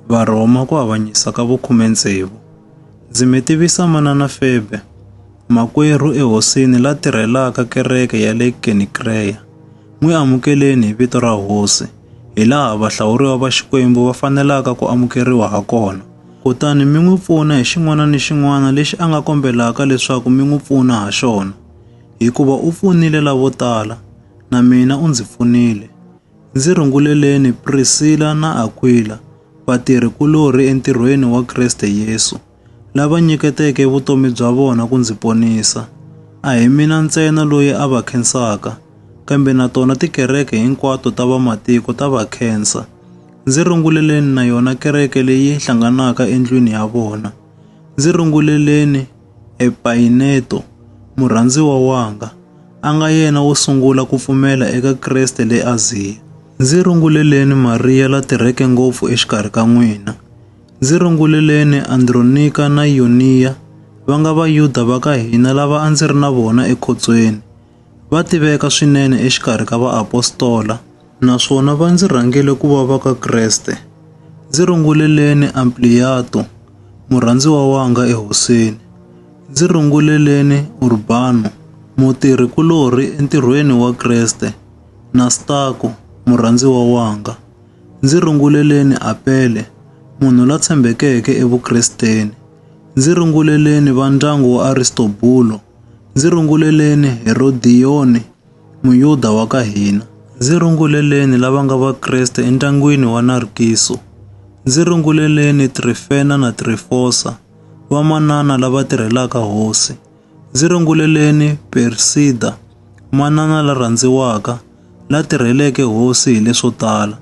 Varhoma ku avanyisa ka vukhumendzevu. Ndzi mi tivisa manana Febe, makwerhu ehosini la tirhelaka kereke ya le Kenikreya. N'wi amukeleni hi vito ra hosi, hi laha vahlawuriwa va Xikwembu va fanelaka ku amukeriwa ha kona. Kutani mi n'wi pfuna hi xin'wana ni xin'wana lexi a nga kombelaka leswaku mi n'wi pfuna ha xona, hikuva u pfunile lavo tala, na mina u ndzi pfunile. Ndzi runguleleni Priscilla na Aquila, vatirhi-kulorhi entirhweni wa Kriste Yesu, lava nyiketeke vutomi bya vona ku ndzi ponisa. A hi mina ntsena loyi a va khensaka, kambe na tona tikereke hinkwato ta vamatiko ta va khensa. Ndzi runguleleni na yona kereke leyi hlanganaka endlwini ya vona. Ndzi runguleleni Epayineto, murhandziwa wanga, a nga yena wo sungula ku pfumela eka Kreste le Aziya. Ndzi runguleleni Mariya la tirheke ngopfu exikarhi ka n'wina. Ndzi runguleleni Andronika na Yuniya, va nga Vayuda va ka hina lava a ndzi ri na vona ekhotsweni. va tiveka swinene exikarhi ka vaapostola naswona va ndzi rhangele ku va va ka Kreste. Ndzi runguleleni Ampliato, murhandziwa wanga eHoseni. Ndzi runguleleni Urbano, mutirhi-kulorhi entirhweni wa Kreste, na Stako, murhandziwa wanga. Ndzi runguleleni Apele, munhu la tshembekeke eVukresteni. Ndzi runguleleni va ndyangu wa Aristobulo, Ndzi runguleleni Herodioni, Muyuda wa ka hina. Ndzi runguleleni lava nga Vakreste endyangwini wa Narkiso. Ndzi runguleleni Trifena na Trifosa, vamanana lava tirhelaka Hosi. Ndzi runguleleni Persida, manana la rhandziwaka, la tirheleke Hosi hi leswo tala.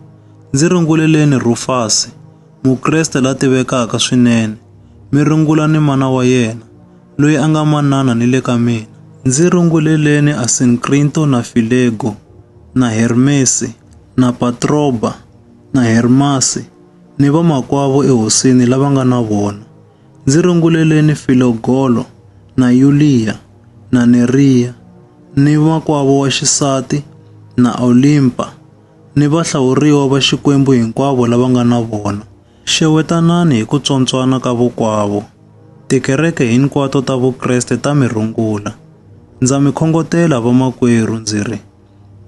Ndzi runguleleni Rufasi, Mukreste la tivekaka swinene. Mi rungula ni mana wa yena. loyi a nga manana ni le ka mina. Ndzi runguleleni Asinkrinto na Filego na Hermesi na Patroba na Hermasi ni vamakwavo ehosini lava nga na vona. Ndzi runguleleni Filogolo na Yuliya na Neriya ni makwavo wa xisati na Olimpa ni vahlawuriwa va Xikwembu hinkwavo lava nga na vona. Xewetanani hi ku tswontswana ka vokwavo, tikereke hinkwato ta Vukreste ta mi rungula. Ndza mi khongotela vamakwerhu ndzi ri,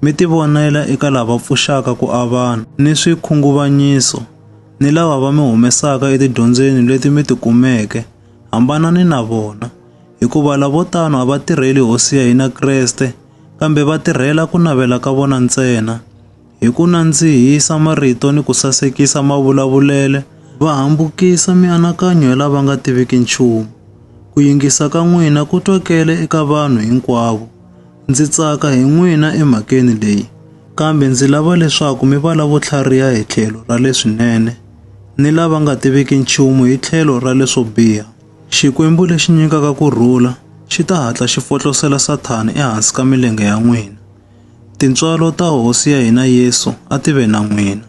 mi tivonela eka lava pfuxaka ku avana ni swikhunguvanyiso ni lava va mi humesaka etidyondzweni leti mi ti kumeke, hambanani na vona, hikuva lavo tano a va tirheli Hosi ya hina Kreste, kambe va tirhela ku navela ka vona ntsena. hi ku nandzihisa marito ni ku sasekisa mavulavulele, va hambukisa mianakanyo ya lava nga tiviki nchumu. Ku yingisa ka n'wina ku twakele eka vanhu hinkwavo. Ndzi tsaka hi n'wina emhakeni leyi, kambe ndzi lava leswaku mi va lavo tlhariha hi tlhelo ra leswinene ni lava nga tiviki nchumu hi tlhelo ra leswo biha. Xikwembu lexi nyikaka ku rhula xi ta hatla xi fotlosela Sathana ehansi ka milenge ya n'wina. Tintswalo ta Hosi ya hina Yesu a ti ve na n'wina.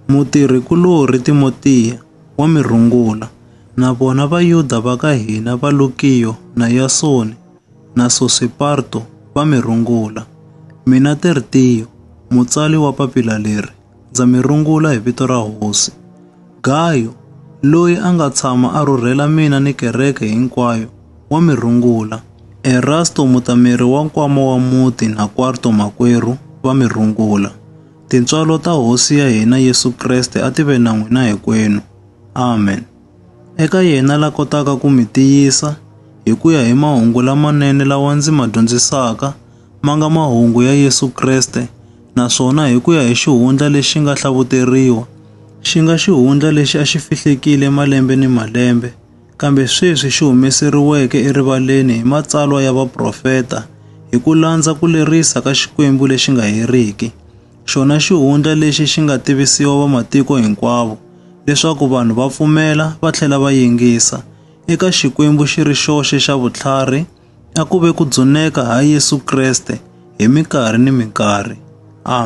Mutirhi-kulorhi Timotiya wa mi rungula, na vona Vayuda va ka hina va Lukiyo na Yasoni na Sosipater va mi rungula. Mina Tertiyo, mutsali wa papila leri, ndza mi rungula hi vito ra Hosi. Gayo, loyi a nga tshama a rhurhela mina ni kereke hinkwayo, wa mi rungula. Erasto mutameri wa nkwama wa muti na Kwarto makwerhu va mi rungula. Tintswalo ta Hosi ya hina Yesu Kreste a ti ve na n'wina hinkwenu. Amen. Eka yena la kotaka ku mi tiyisa hi ku ya hi mahungu lamanene lawa ndzi ma dyondzisaka, ma nga mahungu ya Yesu Kreste, naswona hi ku ya hi xihundla lexi nga hlavuteriwa, xi nga xihundla lexi a xi fihlekile malembe ni malembe, kambe sweswi xi humeseriweke erivaleni hi matsalwa ya vaprofeta, hi ku landza ku lerisa ka Xikwembu lexi nga heriki. xona xihundla lexi xi nga tivisiwa vamatiko hinkwavo leswaku vanhu va pfumela va tlhela va yingisa. Eka Xikwembu xi ri xoxe xa vutlhari, a ku ve ku dzuneka ha Yesu Kreste hi minkarhi ni minkarhi. Amen.